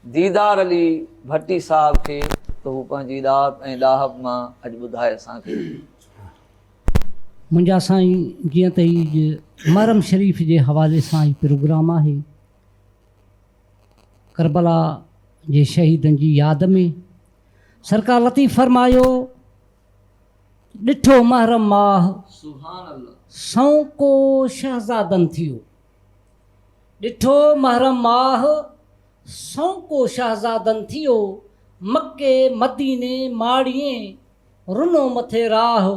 ديدار علي ڀٽي صاحب کي ته هو پنهنجي ڏات ۽ ڏاهپ مان اڄ ٻڌائي اسان کي. منهنجا سائين جيئن ته هي اڄ محرم شريف جي حوالي سان هي پروگرام آهي ڪربلا جي شهيدن جي ياد ۾ سرڪار لطيف فرمايو ڏٺو محرم ماهه سنئون ڪو شهزادن ٿيو. ڏٺو محرم ماهه، سونڪو شهزادن ٿيو، مڪي مديني ماڙيين، رنو مٿي راهه،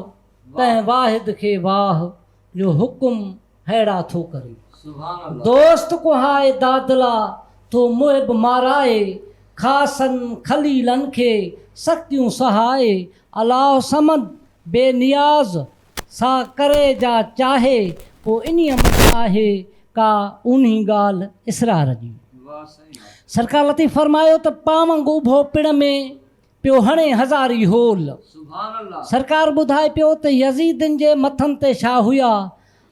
تنهن واحد کي واهه، جو حڪم ههڙا ٿو ڪري. دوست ڪهائي دادلا، ٿو محب مارائي، خاصن خليلن کي، سختيون سهائي، الله الصمد، بي نياز، سا ڪري جا چاهي پو انهي مٿ آهي ڪا اونهي ڳالهه اسرار جي. سرڪار لطيف فرمايو ته پاونگ اڀو پڻ ۾ پيو هڻي هزاري هول. سرڪار ٻڌائي پيو ته يزيدين جي مٿن تي شاهه هيا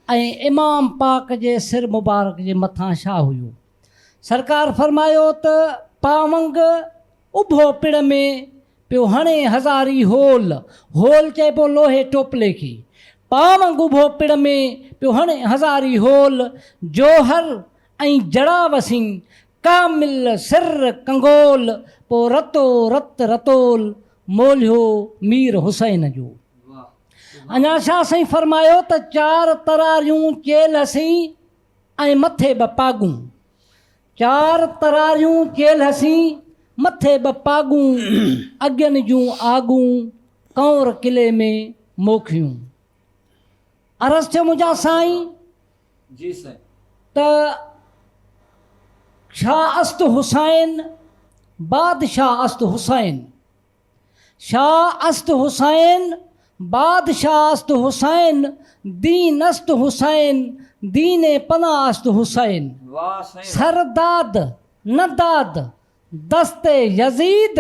۽ امام پاڪ جي سر مبارڪ جي مٿان شاهه هيو. سرڪار فرمايو ته پاونگ اڀو پڙ ۾ پيو هڻي هزاري هول، هول چئبو لوهي ٽوپلي کي، پاونگ اڀو پڙ ۾ پيو هڻي هزاري هول، جوهر ۽ جڙا وسين، ڪامل سر ڪنگول، پو رتو رت رتول، مولهيو مير حسين جو. اڃا شاهه سائين فرمايو ته چار تراريون چيلهه سين، ۽ مٿي ٻه پاڳون. چار تراريون چيل هسين، مٿي ٻه پاڳون. اڳين جون آڳون، ڪنور قلعي ۾ موکيون. عرض ٿيو منهنجا سائين! ته شاهه است حسين، بادشاهه است حسين. شاهه است حسين، بادشاهه است حسين، دين است حسين، دين پناهه است حسين. سر داد، نه داد، دست يزيد،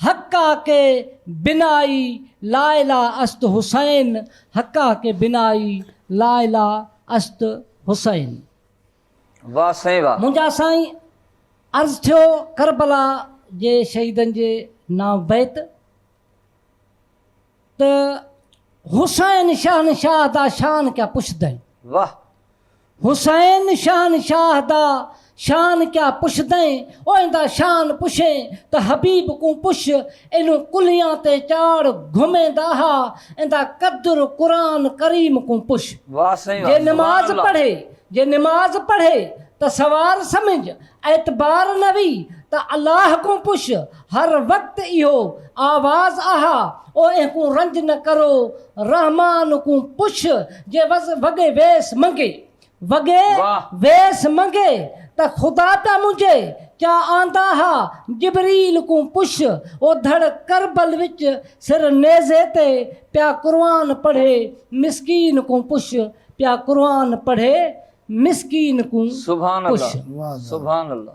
حقا ڪي بنائي لاعليٰ است حسين، حقا ڪي بنائي لاعليٰ است حسين. واھ سائين واھ. منهنجا سائين عرض ٿيو ڪربلا جي شهيدن جي نانء بيت ته حسين شهنشاهه دا شان ڪيا پڇدين. واھ. حسين شهنشاهه دا شان ڪيا پڇدين اوهندا شان پڇين ته حبيب ڪون پڇ اينون ڪلهيان تي چاڙ گهمين دا ها ايندا قدر قرآن ڪريم ڪون پڇ. واھ سائين واھ. جي نماز پڙهي جي نماز پڙهي ته سوار سمجھ، اعتبار نه وي ته الله ڪون پش، هر وقت اهو آواز آها، او اين ڪون رنج نه ڪرو، رحمان ڪون پش، جي وز وڳي ويس منگي، وڳي ويس منگي ته خدا پيا منجي، ڪيا آندا ها، جبريل ڪون پش، او ڌڙ ڪربل وچ سر نيزي تي پيا قرآن پڙهي، مسڪين ڪون پش، پيا قرآن پڙهي مسڪين ڪون ڪش. سبحان الله سبحان الله.